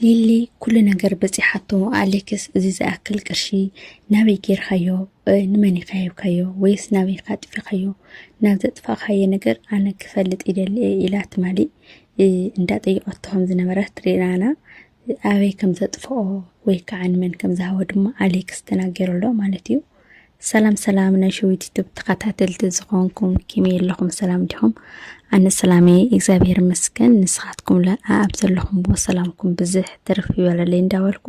ሊሊ ኩሉ ነገር በፂሓቶ ኣሌክስ እዚ ዝኣክል ቅርሺ ናበይ ጌርካዮ ንመን ኢኻ ሂብካዮ ወይስ ናበይ ኢኻ ጥፊኻዮ ናብ ዘጥፋእካዮ ነገር ኣነ ክፈልጥ ይደሊ ኢላ ትማሊ እንዳጠየቐቶ ከም ዝነበረ ትሪእና ኣበይ ከም ዘጥፍኦ ወይ ከዓ ንመን ከም ዝሃቦ ድማ ኣሌክስ ተናገረሎ ማለት እዩ ሰላም ሰላም ናይ ሸዊት ዩቱብ ተኸታተልቲ ዝኾንኩም ከመይ ኣለኹም ሰላም ዲኹም ኣነ ሰላም እየ እግዚኣብሔር ይመስገን ንስኻትኩም ለ ኣብ ዘለኹምዎ ሰላምኩም ብዝሕ ትርፍ ይበለለይ እንዳበልኩ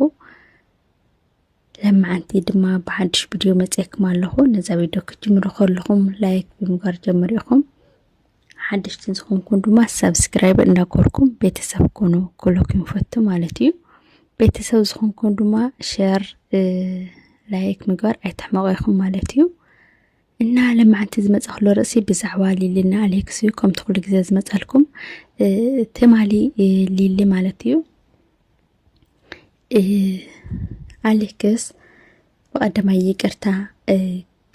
ለመዓንቲ ድማ ብሓድሽ ቪድዮ መፅኤኩም ኣለኹ ነዛ ቪድዮ ክትጅምሩ ከለኹም ላይክ ብምግባር ጀምር ኢኹም ሓደሽቲ ዝኾንኩም ድማ ሰብስክራይብ እናገርኩም ቤተሰብ ኮኑ ክለኩም ይፈቱ ማለት እዩ ቤተሰብ ዝኾንኩም ድማ ሸር ላይክ ምግባር ኣይትሕመቑ ይኹም ማለት እዩ እና ለማዓንቲ ዝመፀክሎ ርእሲ ብዛዕባ ሊሊና ኣሌክስ እዩ ከምቲ ኩሉ ግዜ ዝመፀልኩም ትማሊ ሊሊ ማለት እዩ ኣሌክስ ብቀዳማይ ይቅርታ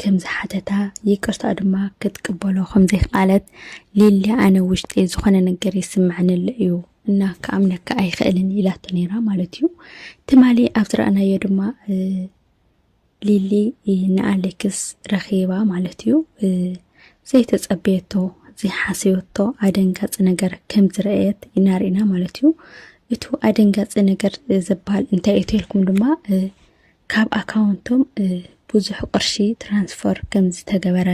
ከም ዝሓተታ ይቅርታኡ ድማ ክትቅበሎ ከም ዘይክኣለት ሊሊ ኣነ ውሽጢ ዝኾነ ነገር ይስምዐኒ ኣሎ እዩ እና ክኣምነካ ኣይኽእልን ኢላቶ ነይራ ማለት እዩ ትማሊ ኣብ ዝረኣናዮ ድማ ሊሊ ንኣሌክስ ረኺባ ማለት እዩ ዘይተፀበየቶ ዘይሓሰበቶ ኣደንጋፂ ነገር ከም ዝረአየት ይናርእና ማለት እዩ እቱ ኣደንጋፂ ነገር ዝበሃል እንታይ እዩ ተልኩም ድማ ካብ ኣካውንቶም ብዙሕ ቅርሺ ትራንስፈር ከም ዝተገበረ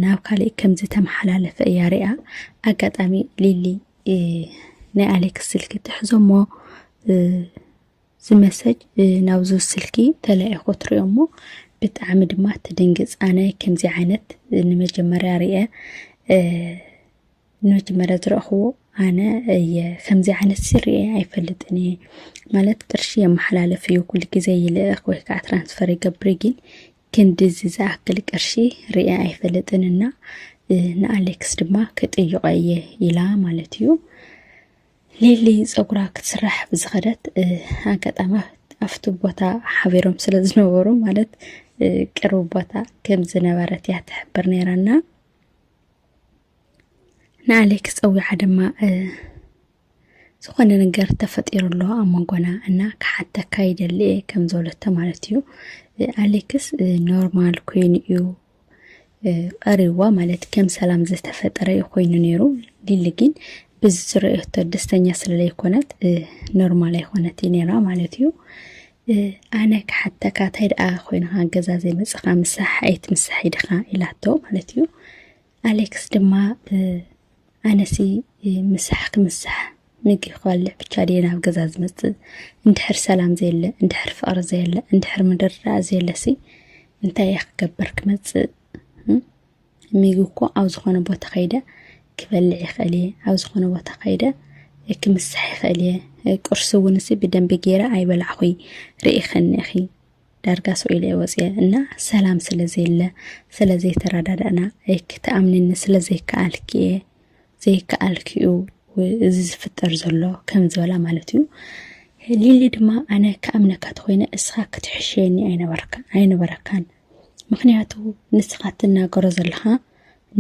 ናብ ካሊእ ከም ዝተመሓላለፈ እያ ሪኣ። ኣጋጣሚ ሊሊ ናይ ኣሌክስ ስልኪ ትሕዞሞ ዝመሰጅ ናብዚ ስልኪ ተላኢኹ ትሪኦ እሞ ብጣዕሚ ድማ ትድንግፅ ኣነ ከምዚ ዓይነት ንመጀመርያ ርአ ነቲ መረት ዝረእኽዎ ኣነ እየ ከምዚ ዓይነት ስርየ ኣይፈልጥን እየ ማለት ቅርሺ የመሓላለፍ እዩ ኩሉ ግዜ ይልእኽ ወይ ከዓ ትራንስፈር ይገብር ግን ክንድዚ ዝኣክል ቅርሺ ርየ ኣይፈልጥን እና ንኣሌክስ ድማ ክጥይቆ እየ ኢላ ማለት እዩ ሌሊ ፀጉራ ክትስራሕ ብዝኸደት ኣጋጣሚ ኣብቲ ቦታ ሓቢሮም ስለ ዝነበሩ ማለት ቅርብ ቦታ ከም ዝነበረት እያ ትሕብር ነይራና ንኣሌክስ ፀዊዓ ድማ ዝኾነ ነገር ተፈጢሩ ኣሎ ኣብ መንጎና እና ክሓተካ ይደሊ እየ ከም ዝበለቶ ማለት እዩ ኣሌክስ ኖርማል ኮይኑ እዩ ቀሪዋ ማለት ከም ሰላም ዝተፈጠረ እዩ ኮይኑ ነይሩ ሊሊ ግን ብዝረእቶ ደስተኛ ስለለይኮነት ኖርማል ኣይኮነት ነራ ማለት እዩ ኣነ ክሓተካ እንታይ ደኣ ኮይንካ ገዛ ዘይመጽኻ ምሳሕ ኣይትምሳሕ ኢድኻ ኢላቶ ማለት እዩ ኣሌክስ ድማ ኣነሲ ምሳሕ ክምሳሕ ምግቢ ክበልዕ ብቻ ድየ ናብ ገዛ ዝመፅእ እንድሕር ሰላም ዘየለ እንድሕር ፍቕሪ ዘየለ እንድሕር ምድርዳእ ዘየለሲ እንታይ እየ ክገብር ክመፅእ ሚጉ እኮ ኣብ ዝኾነ ቦታ ከይደ ክበልዕ ይኽእል እየ ኣብ ዝኾነ ቦታ ከይደ ክምሳሕ ይኽእል እየ ቁርሲ እውን እሲ ብደንቢ ገይረ ኣይበላዕኹይ ርኢኸኒ ኢኺ ዳርጋ ሰው ኢለ ወፅየ እና ሰላም ስለ ዘየለ ስለ ዘይተረዳዳእና ክተኣምንኒ ስለ ዘይከኣልኪ እየ ዘይከኣልኪ እዩ እዚ ዝፍጠር ዘሎ ከም ዝበላ ማለት እዩ ሊሊ ድማ ኣነ ክኣምነካ ተኮይነ እስኻ ክትሕሸየኒ ኣይነበረካን ምክንያቱ ንስካ ትናገሮ ዘለካ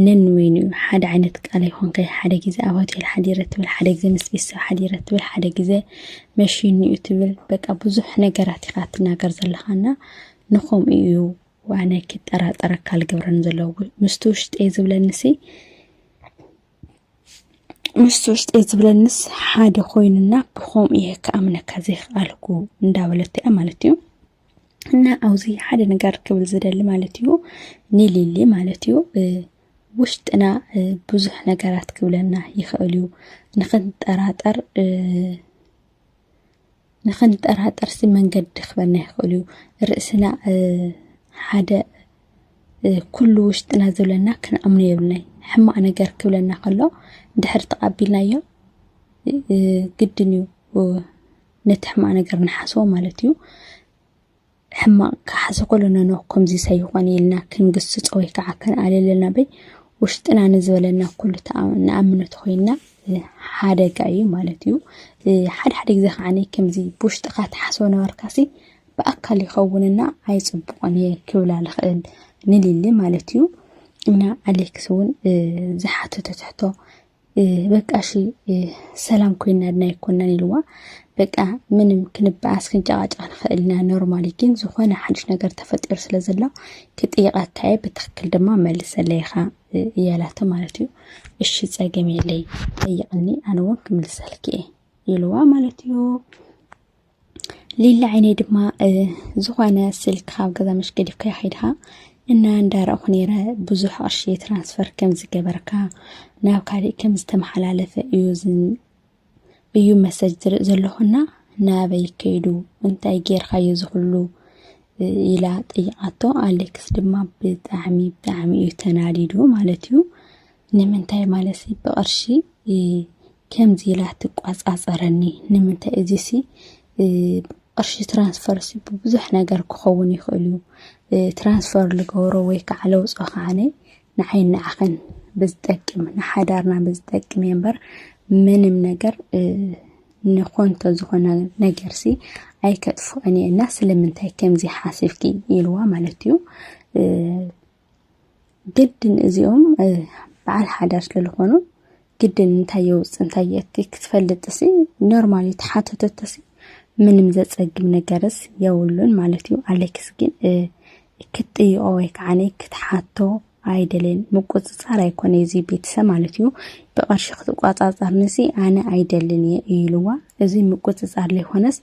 ነንበይኑ እዩ ሓደ ዓይነት ቃል ኣይኮንካይ ሓደ ግዜ ኣብ ሆቴል ሓዲረ ትብል ሓደ ግዜ ምስ ቤተሰብ ሓዲረ ትብል ሓደ ግዜ መሽኒ እዩ ትብል በቃ ብዙሕ ነገራት ኢካ ትናገር ዘለካ እና ንከምኡ እዩ ዋነ ክጠራጠረካ ዝገብረኒ ዘለዎ ምስቲ ውሽጠይ ዝብለኒሲ ምስቲ ውሽጠይ ዝብለኒስ ሓደ ኮይኑና ብከምኡ እየ ክኣምነካ ዘይክኣልኩ እንዳበለቶ እያ ማለት እዩ እና ኣብዚ ሓደ ነገር ክብል ዝደሊ ማለት እዩ ንሊሊ ማለት እዩ ውሽጥና ብዙሕ ነገራት ክብለና ይኽእል እዩ ንክንጠራጠር ንክንጠራጠር ሲ መንገዲ ክበና ይኽእል እዩ ርእስና ሓደ ኩሉ ውሽጥና ዝብለና ክንኣምኖ የብልናይ ሕማቅ ነገር ክብለና ከሎ ድሕር ተቃቢልናዮ ግድን እዩ ነቲ ሕማቅ ነገር ንሓስቦ ማለት እዩ ሕማቅ ክሓሰ ከሎ ነኖ ከምዚ ሰይኾነ ኢልና ክንግስጾ ወይ ከዓ ክንኣልለና በይ ውሽጥና ንዝበለና ኩሉ ንኣምኖ ተኮይንና ሓደጋ እዩ ማለት እዩ ሓደ ሓደ ግዜ ከዓ ከምዚ ብውሽጥካ ትሓስቦ ነበርካሲ ብኣካል ይኸውንና ኣይፅቡቅን እየ ክብላ ልኽእል ንልሊ ማለት እዩ እና ኣሌክስ እውን ዝሓተቶ ትሕቶ በቃ እሺ ሰላም ኮይና ድና ይኮናን ኢልዋ በቃ ምንም ክንበኣስ ክንጨቃጨቅ ንኽእል ኢና ኖርማሊ ግን ዝኾነ ሓድሽ ነገር ተፈጢሩ ስለ ዘሎ ክጥይቀካ እየ ብትክክል ድማ መልሰለይ ኢኻ እያላቶ ማለት እዩ እሺ ፀገም የለይ ጠይቅኒ ኣነ እውን ክምልሰልክ እየ ኢልዋ ማለት እዩ ሊላ ዓይነይ ድማ ዝኾነ ስልክ ካብ ገዛ መሽ ገዲፍካ ይኸይድካ እና እንዳረእኹ ነይረ ብዙሕ ቅርሺ ትራንስፈር ከም ዝገበርካ ናብ ካሊእ ከም ዝተመሓላለፈ እዩ እዩ መሰጅ ዝርእ ዘለኹና ናበይ ከይዱ እንታይ ጌርካዮ ዝኽሉ ኢላ ጠይቃቶ ኣሌክስ ድማ ብጣዕሚ ብጣዕሚ እዩ ተናዲዱ ማለት እዩ ንምንታይ ማለሲ ብቕርሺ ከምዚ ኢላ ትቋፃፀረኒ ንምንታይ እዚሲ ቅርሺ ትራንስፈርሲ ብብዙሕ ነገር ክኸውን ይኽእል እዩ ትራንስፈር ልገብሮ ወይ ከዓ ለውፆ ከዓነ ንዓይ ንዓኸን ብዝጠቅም ንሓዳርና ብዝጠቅም እየ እምበር ምንም ነገር ንኮንቶ ዝኾነ ነገርሲ ኣይከጥፍኦን እየ እና ስለምንታይ ከምዚ ሓሲብኪ ኢልዋ ማለት እዩ ግድን እዚኦም በዓል ሓዳር ስለዝኾኑ ግድን እንታይ የውፅ እንታይ የእቲ ክትፈልጥ ሲ ኖርማል እዩ ተሓተተቶ ሲ ምንም ዘፀግም ነገርስ የብሉን ማለት እዩ። ኣሌክስ ግን ክትጥይቆ ወይ ከዓ ክትሓቶ ኣይደልን ምቁፅፃር ኣይኮነ እዚ ቤተሰብ ማለት እዩ። ብቐርሺ ክትቋፃፀርንሲ ኣነ ኣይደልን እየ ኢሉዋ እዚ ምቁፅፃር ዘይኮነስ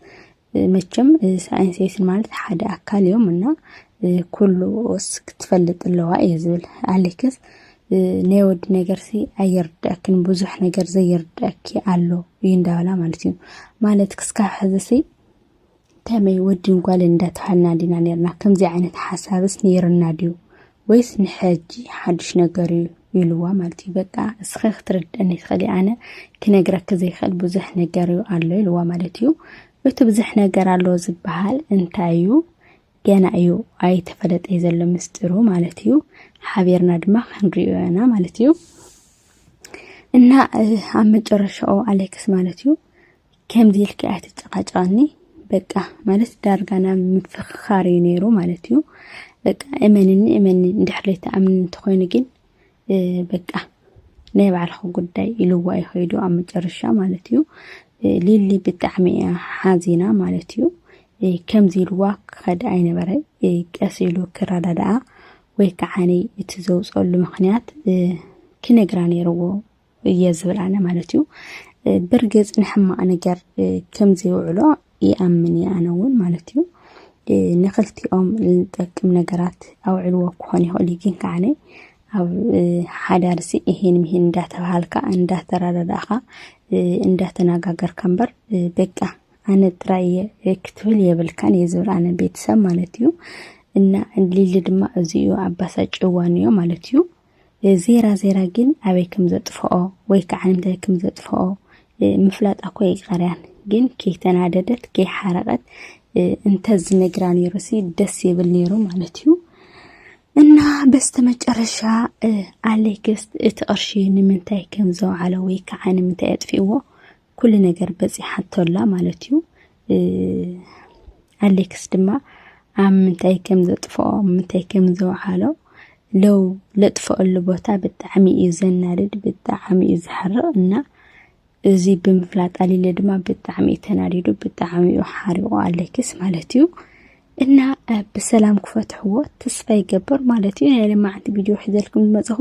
መቸም ሳይንሴስን ማለት ሓደ ኣካል እዮም እና ኩሉ ኦስ ክትፈልጥ ኣለዋ እየ ዝብል ኣሌክስ ናይ ወዲ ነገርሲ ኣየርድኣክን ብዙሕ ነገር ዘየርድኣኪ ኣሎ እዩ እንዳበላ ማለት እዩ ማለት ክስካብ ሕዝሲ ከመይ ወድን ጓልን እንዳተባሃልና ዲና ነርና ከምዚ ዓይነት ሓሳብስ ነይርና ድዩ ወይስ ንሐጂ ሓዱሽ ነገር እዩ ኢልዋ ማለት እዩ በቃ እስኸ ክትርድእኒ ትኽእሊ ኣነ ክነግረኪ ዘይክእል ብዙሕ ነገር እዩ ኣሎ ኢልዋ ማለት እዩ እቲ ብዙሕ ነገር ኣሎ ዝበሃል እንታይ እዩ ገና እዩ ኣይተፈለጠ እዩ ዘሎ ምስጢሩ ማለት እዩ ሓቢርና ድማ ክንሪኦ ኢና ማለት እዩ እና ኣብ መጨረሻኡ ኣሌክስ ማለት እዩ ከምዚ ኢልኪ ኣይትጨቃጨቀኒ በቃ ማለት ዳርጋ ናብ ምፍኽኻር እዩ ነይሩ ማለት እዩ። በቃ እመንኒ እመኒ እንድሕር ዘይትኣምኒ እንተኮይኑ ግን በቃ ናይ ባዕልኺ ጉዳይ ኢልዋ እዩ ከይዱ ኣብ መጨረሻ ማለት እዩ። ሊሊ ብጣዕሚ እያ ሓዚና ማለት እዩ። ከምዚ ኢልዋ ክኸድ ኣይነበረ ቀስ ኢሉ ክረዳድኣ ወይ ከዓ እቲ ዘውፀሉ ምክንያት ክነግራ ነይርዎ እየ ዝብል ኣነ ማለት እዩ ብርግፅ ንሕማቅ ነገር ከም ዘይውዕሎ ይኣምን እየ ኣነ እውን ማለት እዩ ንክልቲኦም ዝጠቅም ነገራት ኣውዕልዎ ክኾን ይኽእል እዩ ግን ከዓነ ኣብ ሓዳር ሲ ይሄን ይሄን እንዳተባሃልካ እንዳተረዳዳእኻ እንዳተነጋገርካ እምበር በቃ ኣነ ጥራይ እየ ክትብል የብልካን እየ ዝብል ኣነ ቤተሰብ ማለት እዩ እና ሊሊ ድማ እዚ እዩ ኣባሳጭዋን እዮ ማለት እዩ ዜራ ዜራ ግን ኣበይ ከም ዘጥፍኦ ወይ ከዓ ንምንታይ ከም ዘጥፍኦ ምፍላጥ ኣኮ ይቀርያን ግን ከይተናደደት ከይሓረቀት እንተዝነግራ ነይሩሲ ደስ ይብል ነይሩ ማለት እዩ። እና በስተመጨረሻ ኣሌክስ እቲ ቅርሺ ንምንታይ ከም ዘውዓለ ወይ ከዓ ንምንታይ ኣጥፊእዎ ኩሉ ነገር በፂሓቶ ኣላ ማለት እዩ ኣሌክስ ድማ ኣብ ምንታይ ከም ዘጥፍኦ ምንታይ ከም ዘውዓሎ ለው ለጥፈኣሉ ቦታ ብጣዕሚ እዩ ዘናድድ ብጣዕሚ እዩ ዝሓርቕ እና እዚ ብምፍላጥ ኣሊለ ድማ ብጣዕሚ እዩ ተናዲዱ ብጣዕሚ እዩ ሓሪቑ ኣሌክስ ማለት እዩ እና ብሰላም ክፈትሕዎ ተስፋ ይገብር ማለት እዩ ናይ ለማዓንቲ ቪድዮ ሒዘልኩም ዝመፅኹ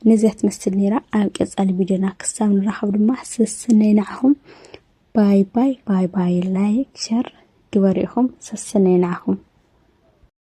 ነዚያ ትመስል ነይራ ኣብ ቀፃሊ ቪድዮና ክሳብ ንራኸብ ድማ ሰስነይ ንዓኹም ባይ ባይ ባይ ባይ ላይክ ሸር ግበሩ ኢኹም ሰስነይ ንዓኹም